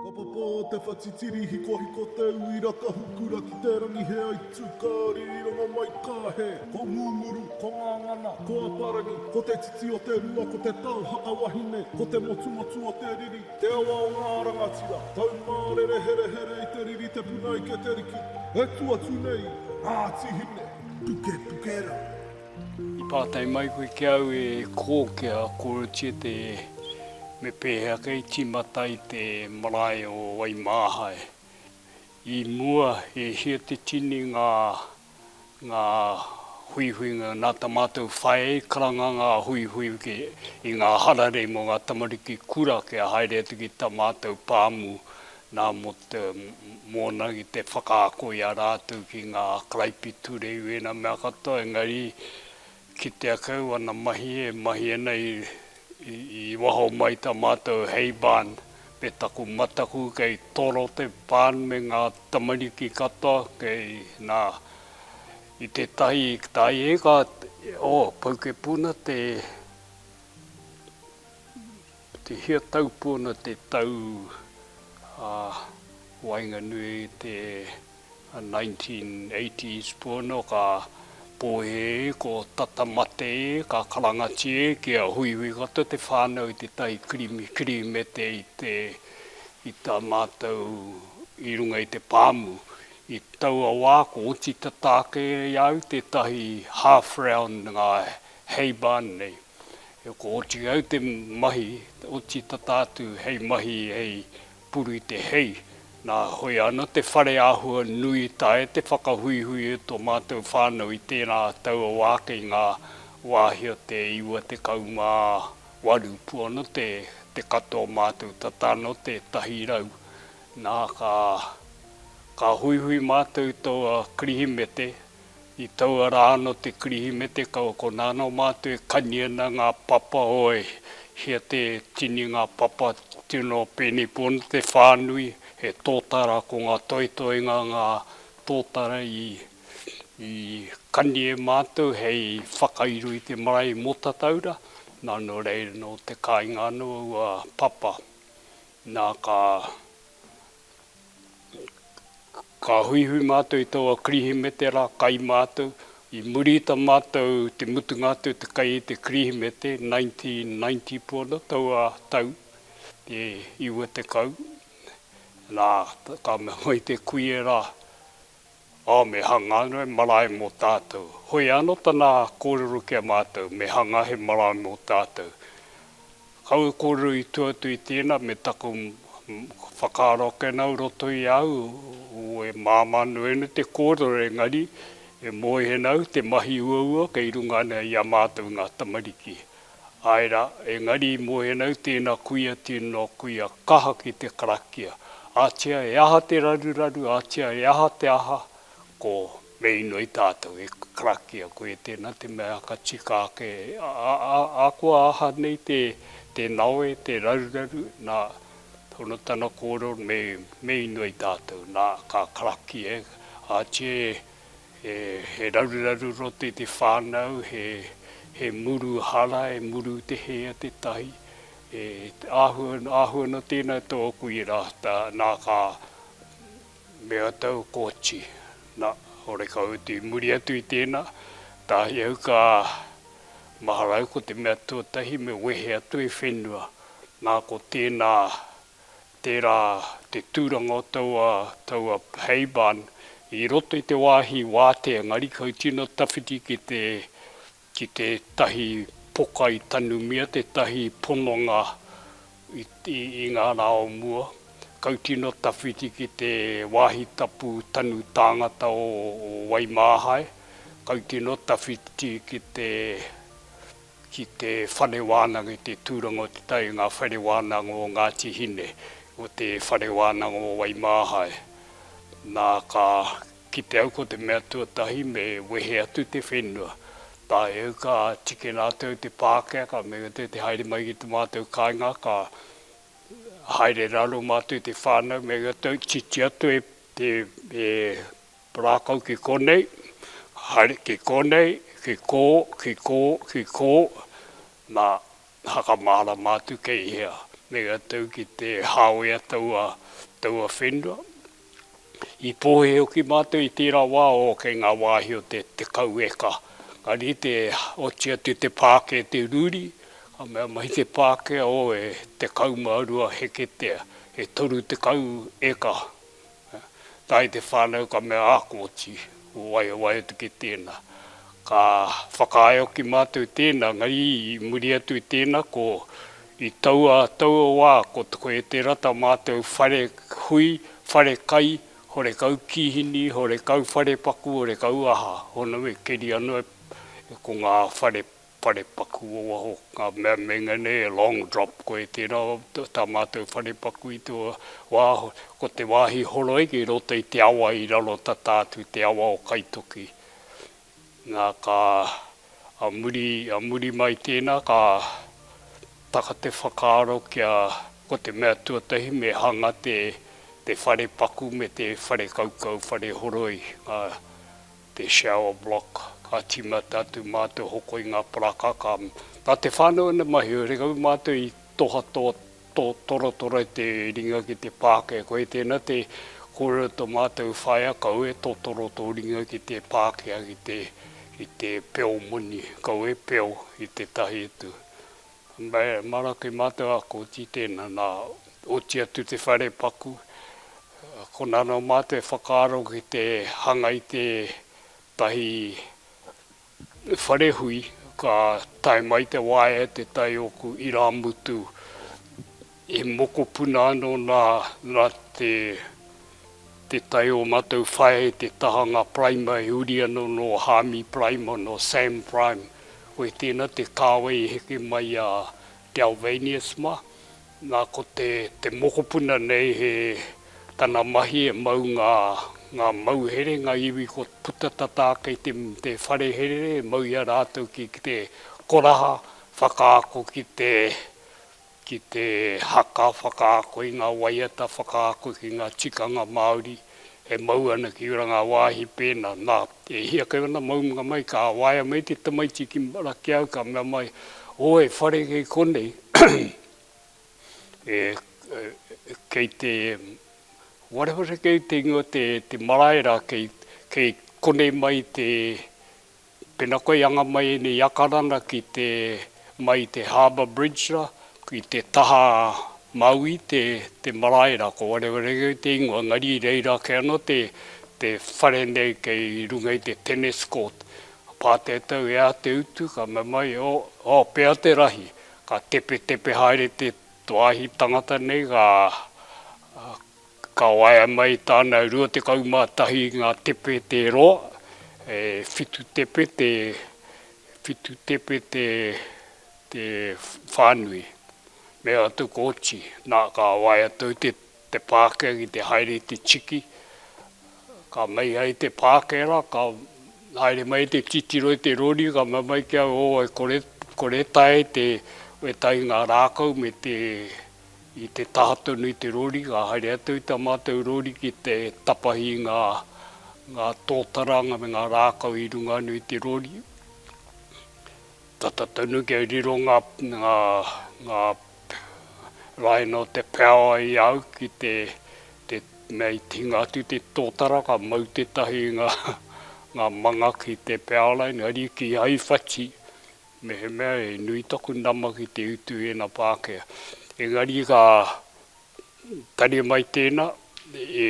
Ka papa te whatitiri hikohiko te uira ka hukura ki te rangi he aitu ka ririranga mai ka he Ko Ngunguru, ko Ngangana, ko Aparangi Ko te titi o te rua ko te tau haka wahine Ko te motumotu o te riri te awa o ngā rangatira Taumārere herehere i te riri te puna ike te riki E tu atu nei ngā tihine Pukepuke rā. I pātai mai koe ki au e kō ki a Korotie te me pēhea kei tīmata i te marae o Waimāhae. I mua e hia te tini ngā ngā huihuinga nā tā mātou whai karanga ngā huihui ki i ngā hararei mō ngā tamariki kura kia haere atu ki tā mātou pāmu Nā, mō te, mōna ki te whakaako i a rātou ki ngā karaipiture i wēnā mea katoa, engari kitea kau ana mahi e mahi ana i, i, i waho mai tā mātou hei barn me taku mataku kei toro te barn me ngā tamariki katoa, kei, nā, i tētahi taieka, oh, Poukepuna te, Tuhia Taupōna te tau a waenganui i te 1980s pōna ka pōhē ko tata mate e ka karangati e ki a Huihui katoa te whānau i te tahi kirimi kirimete i te i tā mātou i runga i te pāmu i taua wā ko oti tata ake i a au tētahi half round ngā hay barn nei. E ko oti au te mahi, oti tata atu hei mahi hei puru i te hei. Na, hoi ana te whare ahua nui tae te whakahuihui e to matou whanau i tena taua wa ake i nga wahi o te iwa tekau ma waru puono te te katoa o matou tata no te tahi rau. Na, ka, ka huihui matou i toua Kirihimete, I taua rā anō te Kirihimete kau ko nāna o mātou e kani ana ngā papa oe hia te tini ngā papa tino pēnei pono te whānui he tōtara ko ngā toetoenga ngā tōtara i i kani e mātou hei whakairo i te marae mō Tataura nā nō reira nō te kāinga anō aua papa nā ka Ka huihui mātou i taua Kirihimete rā, kai mātou. I muri i tā mātou te mutunga atu te kai i te Kirihimete, 1990 pū ana taua tau, te iwa tekau, nā, ka mea mai te kuie rā, Oh, me hanga ano he marae mo tatou. Hoi ano tana korero ki a matou, me hanga he marae mo tatou. Kau e korero i tua atu i tena me taku whakaaro ake nau roto i a au, oh, e mama ano ena te korero engari e moe nau te mahi uaua kei runga ana i a matou nga tamariki. Āe rā, engari i mohena au tēnā kuia tino kuia kaha ki te karakia. Ātea e aha te raruraru, ātea e aha te aha, ko me inoi tātou e karakia koe tēnā te mea ka tika ake ahakoa aha nei te nawe, te raruraru, nā, hono tana kōrero me inoi tātou, nā, ka karakia e, ātea e. He raruraru rote te whānau, he muru hara, he muru te hea tētahi. Āhua nō tēnā tō kui rātā, nā ka mea tau koti. Nā, horekau atu i muri atu i tēnā, tāhi au ka mahara au ko te mea tuatahi me wehe atu i whenua, nā ko tēnā Tērā te tūranga o taua, taua hay barn i roto i te wāhi wātea engari kau tino tawhiti ki te, ki tētahi poka i tanumia, tētahi pononga i, i, i ngā rā o mua. Kau tino tawhiti ki te wāhi tapu tanu tāngata o, o Waimāhae. Kau tino tawhiti ki te. ki te whare wānanga i te tūranga o Te Tai i ngā whare wānanga o Ngāti Hine, o te whare wānanga o Waimāhae. Nā, ka kite au ko te mea tuatahi me wehe atu te whenua. Tae au ka tiki rātou te Pākehā, me kite te haere mai ki tā mātou kāinga, ka haere raro mātou i te whānau, me kite titi atu e Rākau ki konei, haere ki konei, ki kō, ki kō, ki kō, nā, hakamārama atu kei hea. Mei a tau ki te hāwea taua, taua whenua. I pōhē hoki mātou i tērā wā, ō, kei ngā wāhi o te, te kau eka. Engari i te oti atu te pākē te ruri, ka mea mai te Pākehā, ō, e tekau mā rua heketea, e toru tekau eka. Tae te whānau ka mea, Ah kōti, ko wai e waiotu ki tēnā. Ka whakaaeoki mātou tēnā, engari i muri atu i tēnā ko i taua, taua wā ko Te Koetera tā mātou whare hui, whare kai, horekau kīhini, horekau wharepaku, horekau aha, hōna me keria noa ko ngā whare whare paku o waho, ngā mea meinga nei e long drop koe tērā tā mātou whare paku i te wā, ko te wāhi horoiki i roto i te awa i raro tata atu te awa o Kaitoki. Nā, ka, a muri, a muri mai tēnā ka taka te whakaaro kia, ko te mea tuatahi me hanga te, te whare paku me te whare kaukau, whare horoi, ngā. te shower block, ka tīmata atu mā te hoko i ngā paraka, ka, nā te whānau ina mahi, rekau mātou i toha tō, tō, torotoro i te ringa ki te pākē, koe tēnā te kōrero tō mātou whaea, kau e totoro tō ringa ki te pākea, ki te, ki te peo moni, kau e peo i tētahi utu. Me Maraki mātou a Koti tēnā, nā, oti atu te whare paku, konā nō mātou e whakaaro ki te hanga i tētahi whare hui, ka tae mai te waea e te tai ōku irāmutu E mokopuna ano na na te te tai o matou whaea e te tahanga Primer e uri ano no Harmy Primer no Sam Prime koe tena te kawei e heke mai a Dalvanius ma na ko te te mokopuna nei he tana mahi e mau nga nga mauhere nga iwi ko puta tata kei te te whare herere e mau i a ratou ki te koraha whakaako ki te ki te haka whakaako i ngā waiata whakaako ki ngā tikanga Māori e mau ana ki rangawāhi pēnā, nā, e hia kei ōna maunga mai, ka waea mai te tamaiti ki Marakiao, ka mea mai, ō, e whare kei konei, e, kei te, wharewareka i te ingoa, te, te marae rā, kei, kei konei mai te, Pena koe i anga mai ēnei iakarana ki te mai i te Harbour Bridge ra, i te taha Maui te te marae ra, ko Warewaregai te ingoa, engari i reira ake ano te te whare nei kei runga i te Tennis Court. Ka pātētau e a te utu, ka mamae, o, o, pea te rahi. Ka tepetepe haere te to ahi tangata nei, ka, ka. Ka waea mai tāna 21 ngā tepe te roa, e whitu tepe te whitu tepe te te whānui. Me atu ko Oti, nā, ka waea tou te te pākē ki te haere i te tiki, ka mei ai te pākē rā, ka haere mai te titiro i te rori, ka mau mai ki au, o, e kore, kore tae te weta i ngā rākau me te. I te taha tonu i te rori, ka haere atu i tā mātou rori ki te tapahi i ngā, ngā tōtaranga me ngā rākau i runga anu i te rori. Tata tonu kia riro ngā, ngā, ngā raina o te peaoa i a au ki te, te mea i hinga atu i te tōtara, ka mau tētahi i ngā, ngā manga ki te peaoa raina, ariki hai whati, Mehemea he nui taku nama ki te utu ēna Pākehā. Engari ka tare mai tēnā, e,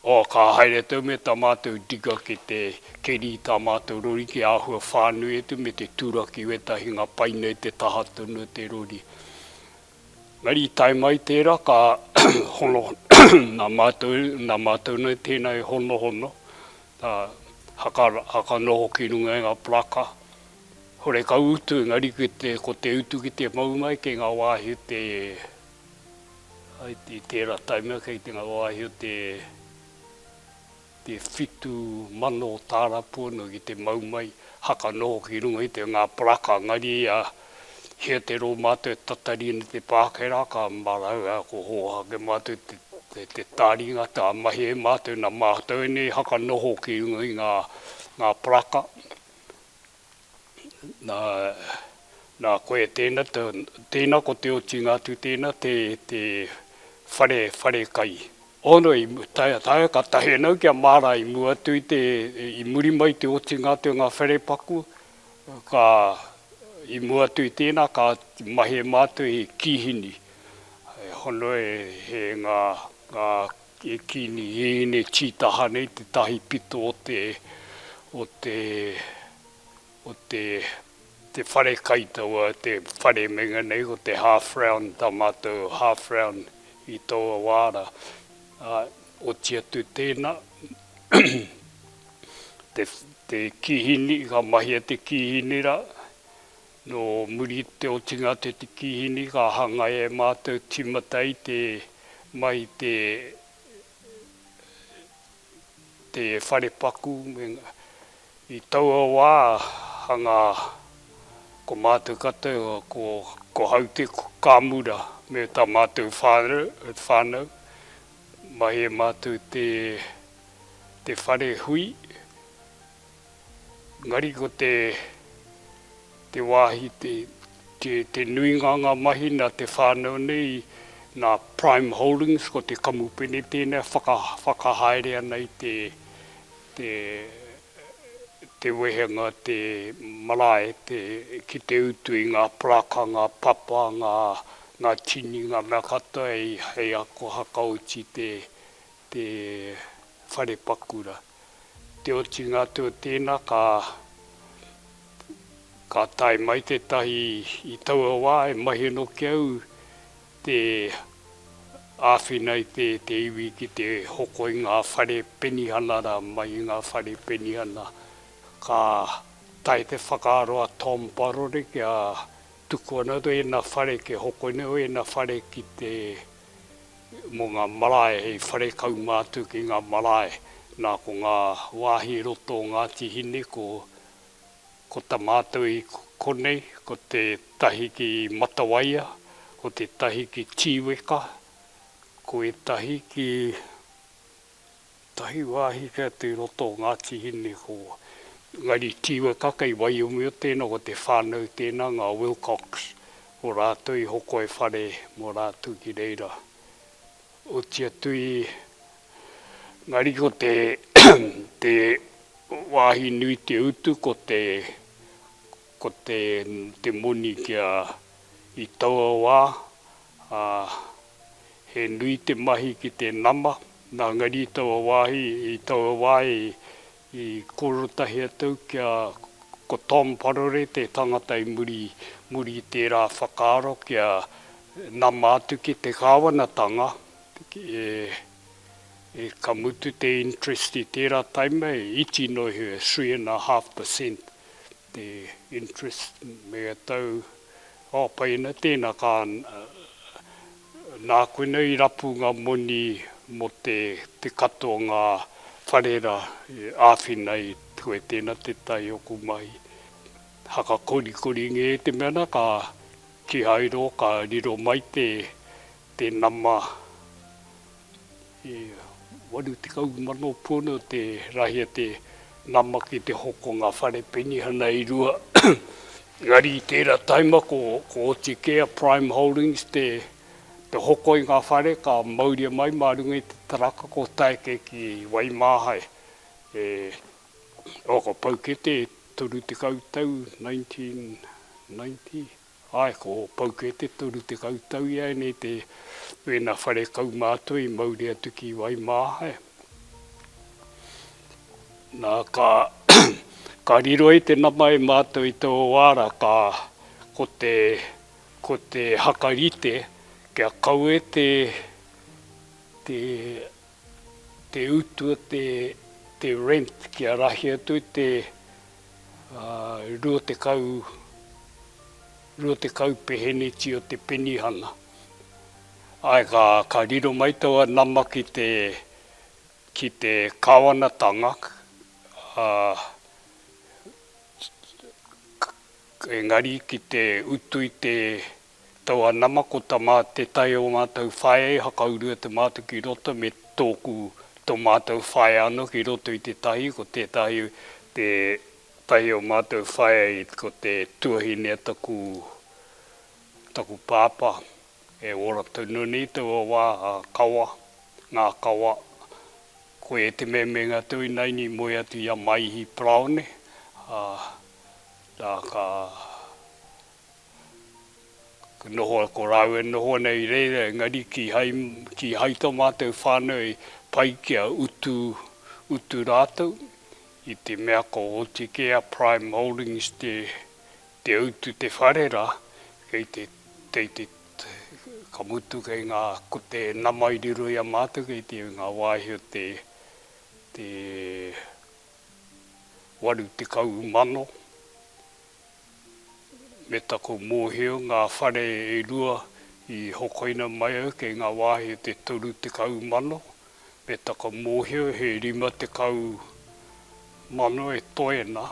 oh, ka haere tau me tā mātou digger ki te keri i tā mātou rori ki āhua whānui atu me te turaki i wētahi ngā pai nei te taha tonu o te rori. Engari i tae mai tērā ka hono, nā mātou, nā mātou nei tēnā e honohono, Ka haka, haka noho ki runga i nga paraka, hore ka utu i nga rikete ko te utu ki te mau mai kei nga wahi o te, i tera taimea kei te nga wahi o te, te whitu mano tarapu ano ki te mau mai, haka noho ki runga i te nga paraka, engari ia. Hia te rō mātou e tatari ana te pāke rā, ka marau ā, ko hōhā ake mātou te, te, te tāringa, tā mahi e mātou, nā mātou ēnei haka noho ki runga i ngā, ngā paraka. Nā, nā koe tēnā, te, tēnā ko te otinga atu tēnā, te, te whare, whare kai. Ono i, tae, tae, ka tahi ana au ki a Māra i mua atu i te, i muri mai i te otinga atu o ngā wherepaku, Ka, i mua atu i tēnā, ka mahie mātou he kīhini, e hono e, e ngā, ngā, e kīni hīhine tītaha nei te tahi pito o te, o te, o te, te whare kai taua, te whare meinga nei ko te half round, tā mātou half round i taua wā rā. Ā, oti atu tēnā, te te kihini ka mahia te kihini ra no muri i te otinga te te kihini ka hangai e matou timata i te mai te te whare paku me nga i taua wa hanga ko matou katou ko ko haute ko kamura me ta matou whanau mahi e matou te. te whare hui, engari ko te te wāhi te te te nuinga o ngā mahi nā te whānau nei, nā Prime Holdings, ko te kamupene tēnei e whaka whakahaere ana i te te te wehenga, te marae, te ki te utu i ngā paraka, ngā papa, ngā ngā tini, ngā mea katoa hei hei ako hakaoti te te whare pakura. Te otinga atu o tēnā ka ka tae mai tētahi i taua wā e mahi ana ki au te āwhina i te te iwi ki te hoko i ngā whare penihana rā mai i ngā whare penihana. Ka tae te whakaaro a Tom Parore kia tuku ana ēnā whare kia hoko nei ēnā whare ki te mō ngā marae hei whare kaunga atu ki ngā marae, nā ko ngā wāhi i roto o Ngāti Hine ko ko ta mātou i konei ko te tahi ki Matawaia, ko te tahi ki Tīweka, ko ētahi ki Tahi wāhi kei atu i roto o Ngāti Hine ko Ngāri Tīwekaka i Waiomio tēnā, ko te whānau tēnā, ngā Wilcox, ko rātou i hoko e whare mō rātou ki reira. Oti atu i Ngāri ko te te wāhi nui te utu ko te ko te te moni kia i taua wā, ā. He nui te mahi ki te nama, nā Ngari i taua wāhi, i taua wā i kōrotahi atu au kia, ko Tom Parore te tangata i muri, muri i tērā whakaaro kia nama atu ki te kāwanatanga, e, ka mutu te interest i tērā taima e iti noa iho, e three and a half per cent. te interest me a tau oh pai ana tena ka na koina i rapu nga moni mo te te kato nga whare ra i awhina i koe tena te tai oku mahi haka korikori nge te mea na ka tihairo ka riro mai te te nama. E 80,000 pūnu te rahi a te nama ki te hoko o ngā whare penihana e rua, engari i tērā taima ko Otikea Prime Holdings te hoko i ngā whare ka mauria mai mā runga i te taraka ko Taeke ki Waimāhae e Whakapaukete e 30 tau 1990. Ae, ko Pauke te toru tekau tau i aenei te wena whare kaumātua i mauri atu ki Waimāhae. Na, ka ka riro ai te nama e mātou i tō wāra ka ko te ko te haka rite kia kaue te te te utu o te te rent kia rahi atu i te rua tekau, rua tekau peheneti o te penihana. Ae ka, ka riro mai taua nama ki te, ki te Kawanatanga, a, engari ki te utu i te Taua nama ko ta ma te tae o matou whaea i hakaurua te matou ki roto me toku to matou whaea ano ki roto i te tahi ko tetahi te tahi o matou whaea i ko te tuahine a taku taku papa e ora tonu nei taua wa a kawa nga kawa koe e te memenga tou inaina i moe atu i a Maihi Paraone a na ka. Noho, ko rāua e noho ana i reira, engari kīhai, kīhai tō mātou whānau e pai kia utu, utu rātou, i te mea ko Hotikea Prime Holdings te, te utu te whare rā, kei te, kei te, ka mutu kei ngā, ko te nama i riro i a mātou kei te, ngā wāhi o te, te waru tekau mano. me taku mōhio ngā whare e rua i hokoina mai au kei ngā wāhi o te toru tekau mano, me taku mōhio he rima tekau mano e toe na,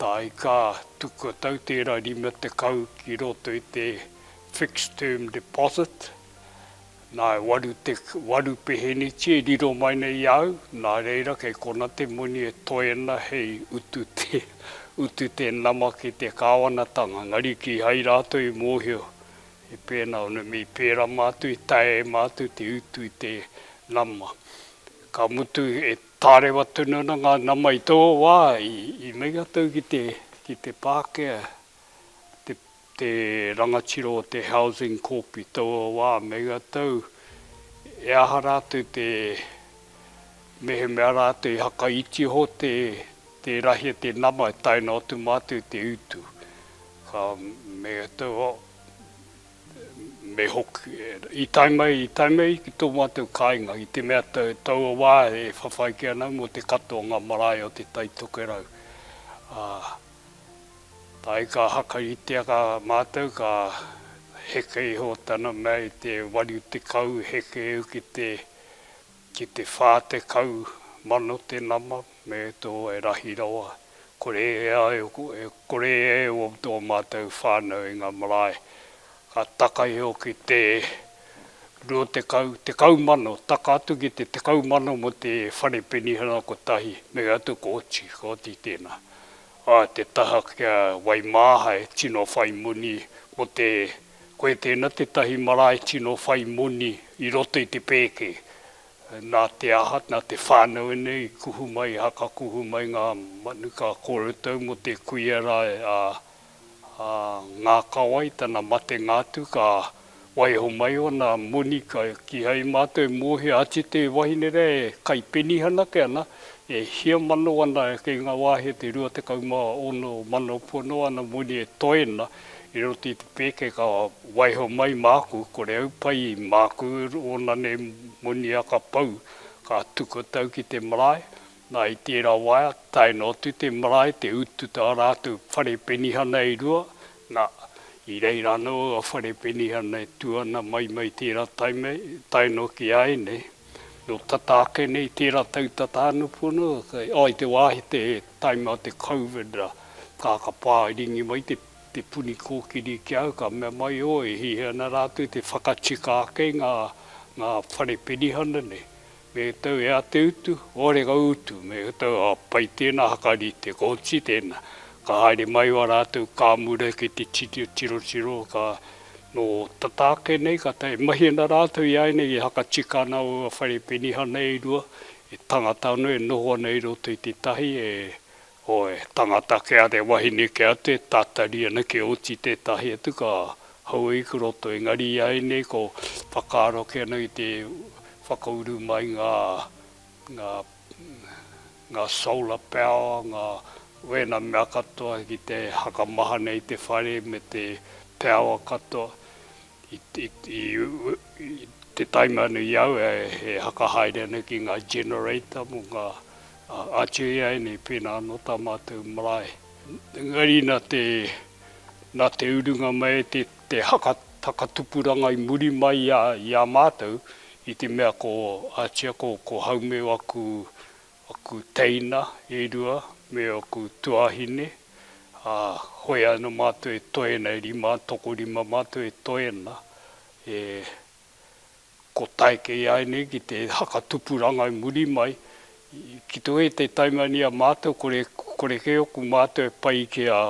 tā ika tukua tau tērā rima tekau ki roto i te fixed term deposit, Nā, e waru te, waru peheneti e riro mai nei i a au, nā reira kei kona te moni e toena hei utu te, utu te nama ki te Kāwanatanga, engari kīhai rātou i mōhio he pēnā ona mea i pērā mātou, i taea e mātou te utu i te nama. Ka mutu e tārewa tonu ana ngā nama i tō wā, i, i meinga tau ki te, ki te Pākehā. te rangatira o te Housing Corp i taua wā me ia tau, e aha rātou te mehemea rātou i hakaiti iho te rahi a te nama e tae noa atu mātou i te utu. Me ia tau, me hoki, i tae mai, i tae mai ki tō mātou kāinga i te mea taua wā e whawhai kē ana mō te katoa o ngā marae o Te Tai Tokerau, ā. Āe ka hakaritea kā mātou ka heke iho tana mea i te waru tekau heke eu ki te ki te whā tekau mano te nama me tō e rahi rawa kore e ai e kore e o tō mātou whānau i ngā marae ka taka iho ki te rua tekau tekau mano taka atu ki te tekau mano mo te whare penihana kotahi me atu kōti kōti tēnā A te taha kia waimāha e tino whai moni ko te koe tēna tētahi marae tino whai moni i roto i te pēke. Nā te aha, nā te whānau ēnei i kuhu mai, i hakakuhu mai ngā manuka kōroutau mō te kuia rā a Ngākawai tana matenga atu ka Waiho mai ona moni ka kihai matou e mohia ati te wahine rea e kai penihana ake ana, e hia mano ana kei nga wahi e te 26 mano pua no ana moni e toe ana i roto i te peke ka waiho mai maku kore au pai maku ona nei moni a ka pau ka tuku tau ki te marae na i tera waea tae noa atu te marae te utu ta ratou whare penihana e rua Na, i reira ano a whare Penihana e tu ana mai mai tera taime, tae noki a enei, no tata ake nei tera tau tata ano pono, oh i te wa i te taime a te Covid ra, ka, ka pa i ringi mai te, te puni kokiri ki au, ka mea mai oh e hihi ana ratou te whakatika ake i nga, nga whare Penihana nei. Me tau he a te utu, oare ka utu, me tau a pai tēnā hakarite, ko Oti tēnā. Ka haere mai wā rātou ka mura ki te tirotiro, ka nō tata ake nei ka tae, e mahi ana rātou i āianei e hakatika ana ua whare penihana e rua, he tangata anō e noho ana i roto i tētahi e Oe, tangata kia re wahine kia te tatari ana kia oti tetahi atu ka haua i roto engari i a enei ko whakaaro ake ana i te whakauru mai nga nga nga solar power nga wena mea katoa ki te hakamaha nei te whare me te power katoa I te taim anu i au e whakahaere ana ki ngā generator mō ngā Atua ianei pēnā anō tā mātou marae. Engari nā te, nā te urunga mai te whakatupuranga i muri mai i a mātou i te mea ko Atua ko Haumeu aku oku teina e rua me oku tuāhine, ā, hoi ana mātou e toe ana, e rima, tokorima mātou e toe ana, e, ko tae kē ai nei ki te hakatupuranga i muri mai, ki te wē te taimani a mātou, kore, kore kē oku mātou e pai ki a.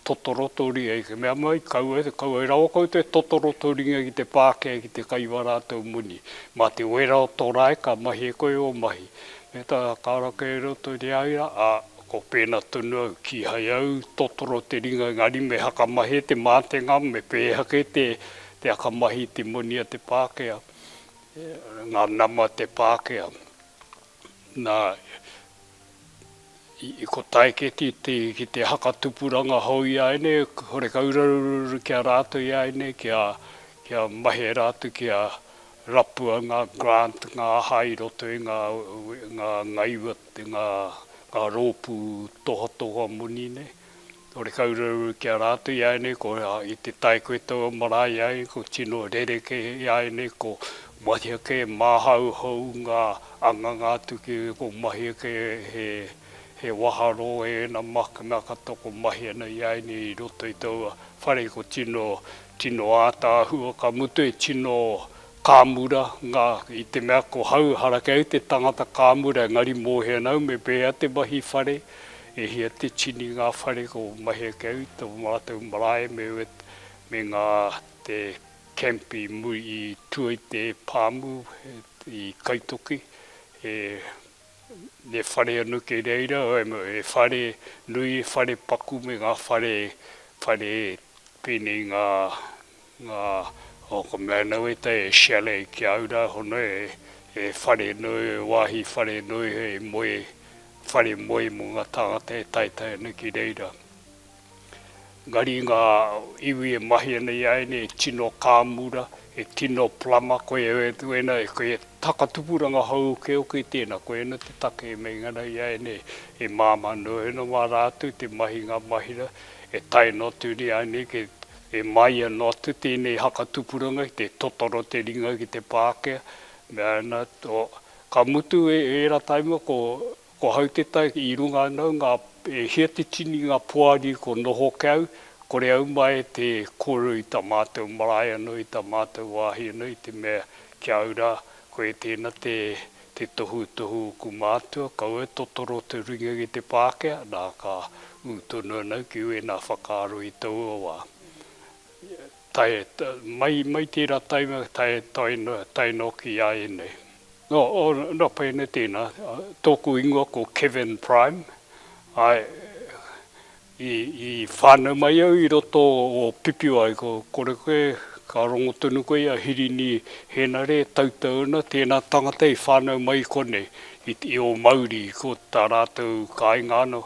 Totoro tō ringa i te mea mai, kaua, kaua e rawa koutou e totoro tō ringa ki te pākē, ki te kai wara a tō moni. Mā te wera o tō rae ka mahi e koe ō mahi. Me tā, kāra kē roto i a ia, ā, ko pēnā tonu au, kīhai au totoro te ringa engari me hakamahi e te mātenga, me pēhea kē te, te akamahi i te moni a te pākē, ngā nama a te pākē. Na, i kotae ke ti te, ki te haka tupuranga hou i a enei, horeka urarururu ki a ratou i a enei, kia, kia mahea ra atu, kia rapua nga grant, nga aha i roto i nga, nga, nga iwa, nga, nga ropu tohatoha moni nei. Horekau rau ki a rātou i āianei, ko i te tae koe tau a marae i āianei, ko tino rerekē i āianei, ko mahia kē, māhau hou ngā anganga atu ki ko mahia kē he waharō e ēna makna katoa ko mahia nei i āianei i roto i taua whare, ko tino, tino ātaahua, ka mutu e tino Ka mura, nga, i te mea ko hau harakeu te tangata ka mura engari mohena au me pehea te mahi whare, e hia te tini nga whare ko mahea keu i to matou marae me wet me nga te camp i muri i tua i te pamu i Kaitoki e ne whare anu kei reira e whare nui e whare paku me nga whare whare penei nga Nga, o ko Meanuitai e shale ki a ura hono e, e whare nui, e wahi whare nui hei moe, whare moe mo nga tangata e taetae ana ki reira. Engari nga iwi e mahi ana i a ene e tino kaamura, e tino plama, koe ena, koe e takatupuranga hou uke uke i tena, koe ena te take e meinga ana i a ene e maama noe ana ma ra atu te mahi nga mahira e tae notu ni a ene ki E māia noatu tēnei haka tupuranga ki te totoro te ringa ki te pākea, mea ana, ka mutu ērā taima ko hau te tai i runga ana au ngā, e hia te tini ngā poari ko noho ke au, kore au mai e te kōrero i tā mātou marae anō, i tā mātou wāhi anō, i te mea ki a au rā, koe tēnā te Te tohutohu o ku mātua, kaua e totoro te ringa ki te Pākehā, nā, ka ū tonu ana au ki wēnā whakaaro i taua wā. Tae, mai, mai tērā taima, tae, tae, tae noki i a ēnei. Nō, nō pēnei tēnā, tōku ingoa ko Kevin Prime, āe, I whānau mai au i roto o Pipiwai, ko kore koe, ka rongo tonu koe i a Hirini Henare, Tautau ana, tēnā tangata i whānau mai i konei, i ō mauri, ko tā rātou kāinga ana,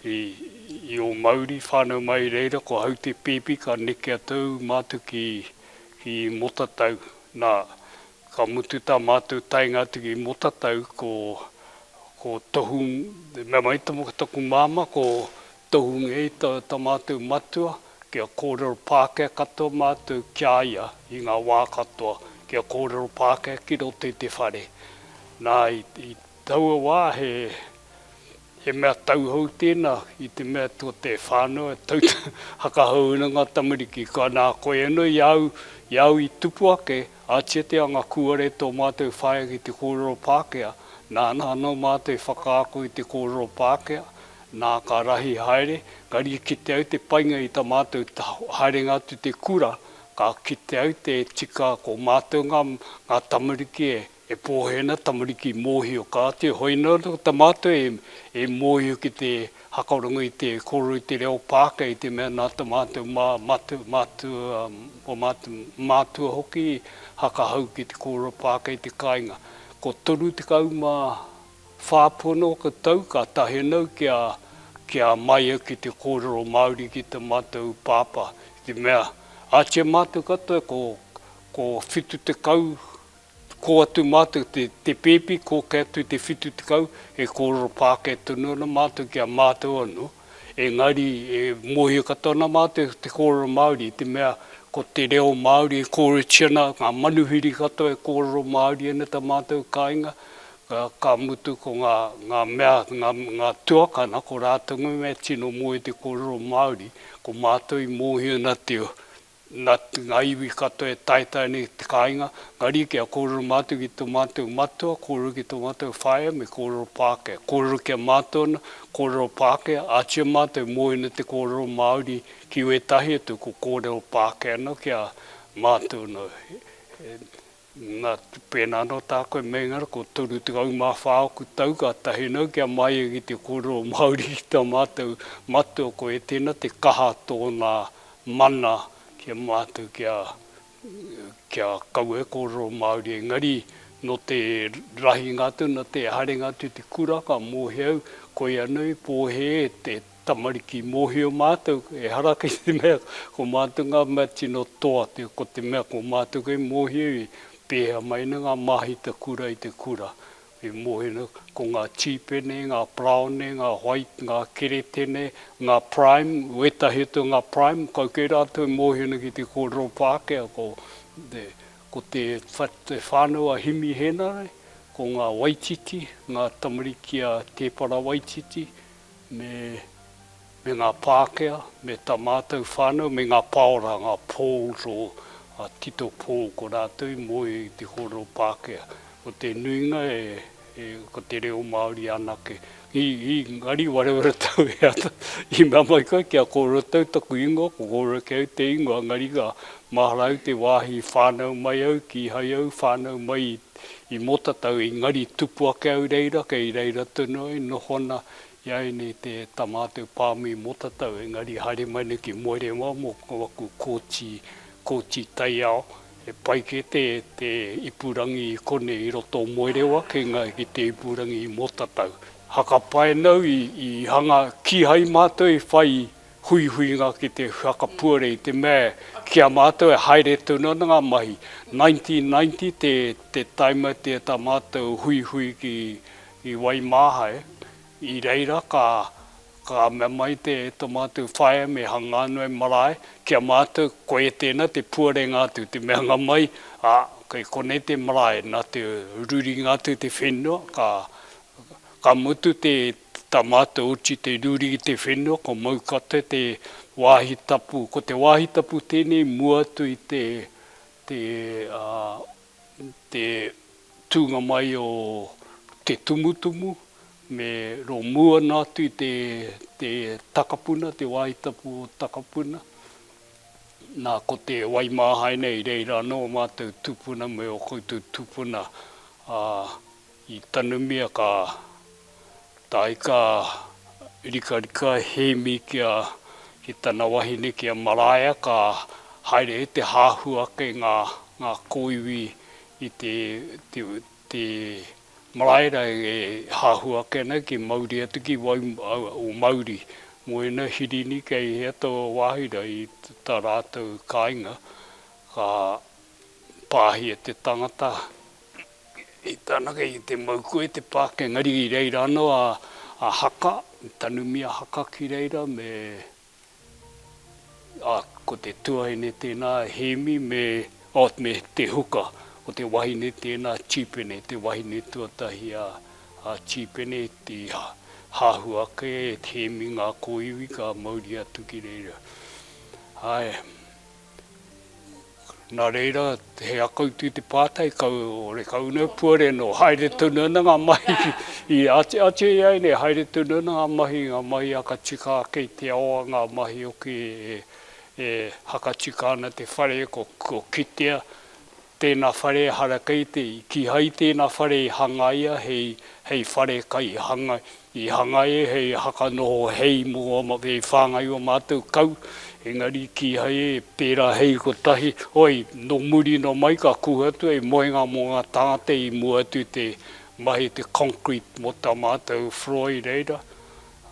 i ō mauri, i whānau mai i reira, ko Haute Pēpi ka neke atu au mātou ki Motatau, nā, Ka mutu tā mātou taenga atu ki Motatau ko ko Tohu mea mai tō taku māmā ko Tohu Ngei tā tā mātou matua kia kōrero Pākehā katoa mātou ki a ia i ngā wā katoa kia kōrero Pākehā ki roto i te whare. Nā i i taua wā he He mea tauhou tēnā i te mea tō te whānau e tautoko whakahou ana ngā tamariki. Ka nā, koe anō i a au, i a au i tupu ake, ātia te anga kūare tō mātou whaea ki te kōrero Pākehā, nāna anō mātou i whakaako i te kōrero Pākehā, nā, ka rahi haere, ka rikite au te painga i tā mātou haerenga atu te kura, ka kite au te tika ko mātou ngā tamariki e E Pōhēna, tamariki mōhio ka āti, hoi nō atu ta mātou e mōhio ki te hakaoranga i te kōrero i te reo Pākehā i te mea nā ta mātou mātua hoki i hakahau ki te kōrero Pākehā i te kāinga. Ko 34 pono o ka tau ka tahe nau ki a Maia ki te kōrero Māori ki ta mātou pāpā i te mea ātia mātou katoa ko 70 Kō atu mātou te, te pēpi, kō kē atu te whitu tekau, e kōrero pākē tonu ana mātou ki a mātou anō, engari e mōhio katoa ana mātou i te kōrero Māori, i te mea ko te reo Māori e kōrerotia ana, ngā manuhiri katoa e kōrero Māori ana i tā mātou kāinga, ka mutu ko ngā, ngā mea, ngā, ngā tuakana, ko rātou me tino moe i te kōrero Māori, ko mātou i mōhio ana te, Nā ngā iwi katoa e taetae nei ki te kāinga, engari kia kōrero mātou ki tō mātou matua, kōrero ki tō mātou whaea me kōrero Pākehā. Kōrero ki a mātou ana, kōrero Pākehā, ātia mātou mōena te kōrero Māori ki wētahi atu ko kōrero Pākehā anō ki a mātou anō. Na, pēnā anō tā koe meinga ko 34 oku tau ka tahi nau kia maia ki te kōrero Māori ki tā mātou matua koe tēnā te kaha tōna mana ki a mātou kia kia kaua e kōrero Māori engari nō te rahinga atu nō te haringa atu i te kura ka mōhio au koia nei pōhē te Tamariki, mōhio mātou, ehara kei te mea ko mātou ngā mea tino toa, ko te mea ko mātou kei mōhio i pēhea mai nei ngā māhita kura i te kura. Me mōhio nei ko ngā tīpene, ngā paraone, ngā white, ngā keretene, ngā prime, wētahi atu o ngā prime, kau kei rātou e mōhio nei ki te kōrero Pākehā, ko te, ko te whānau a Himi Hēnare, ko ngā Waititi, ngā tamariki a Tēpara Waititi, me me ngā Pākehā, me tā mātou whānau, me ngā paora, ngā Poles o a Tito Pole ko rātou i moe i te kōrero Pākehā. Ko te nuinga e e ko te reo Māori anake. I i ngari ware ware tau e ata i mea mai koe kia kōrero tau taku ingoa, ko kōrero kē au te ingoa engari ka mahara au te wāhi whānau mai au, kīhai au whānau mai i. I mota tau i ngari tupu ake au reira kei reira tonu ai noho ana i a enei te tamatou pamu i mota tau engari haere mai nei ki Moerewa mo aku koti koti taiao he pai ke te te ipurangi i konei i roto o Moerewa kei nga ki te ipurangi i mota tau haka pae nau i i hanga kihai matou i whai huihuinga ki te whakapuare i te mea ki a mātou e haere tonu ana ngā mahi. 1990 te taima i te tā mātou huihui ki i Waimāhae, i reira ka ka mea mai te to mātou whaea me Hangānui marae ki a mātou ko e tēnā te puarenga atu te meanga mai a kei konei te marae nā te ruringa atu te whenua ka ka mutu te Te tama, te oti, te ruri i te whenua, ko Maukate te wāhi tapu. Ko te wāhi tapu tēnei mua atu i te te tūnga mai o Te Tumutumu me Romu ana atu i te Takapuna, te wāhi tapu o Takapuna. Nā, ko te Waimāhaina i reira anō ō mātou tūpuna me ō koutou tūpuna, ā, I tanumia ka tae ka rikarika Hēmi ki a, ki tana wahine ki a Maraea ka haere e te hahu ake nga, nga koiwi i te, te, te maraera e hahu ake ana ki mauri atu ki wau, o mauri mo ena Hirini kei hea to wahi ra i ta ratou kainga ka pahia te tangata I tāna kei te mau koe te pākenga riri i reira anō a Haka, Tanumia Haka ki reira me a ko te tuaine tēnā Hēmi me me Te Huka, ko te wahine tēnā Tīpene, te wahine tuatahi a a Tīpene i hahu ake e Hēmi ngā kōiwi ka mauri atu ki reira. Ae. Nā reira, he akautu te pātai, kau, ore kau nei puare nō, haere tonu ana ngā mahi i āti, āti ai nei, haere tonu ana ngā mahi, ngā mahi a ka tika ake i te ao a ngā mahi hoki e, e hakatika ana te whare, ko, ko kitea, Tēna whare ehara kei te i. Kīhai tēna whare i hangaia hei, hei whare kai hangai, i hangaia hei haka noho hei mō, hei whāngai i ō mātou kau, engari kīhai e pērā hei kotahi, oi, nō muri nō mai ka kū atu hei moenga mō ngā tāngata i mua atu i te mahi te concrete mō tā mātou whroi reira,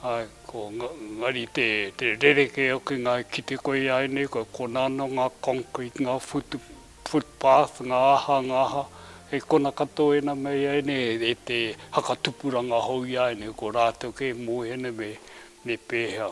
āe, ko nga, ngari te, te rerekē hoki ngā, ki te koia ai nei, kua konā nō ngā concrete, ngā whutu. footpath, ngā aha, ngā aha, hei kona katoa ēnā me ēnei, e te whakatupuranga hou i a ēnei, ko rātou kē mō ēnei me, me pēhea.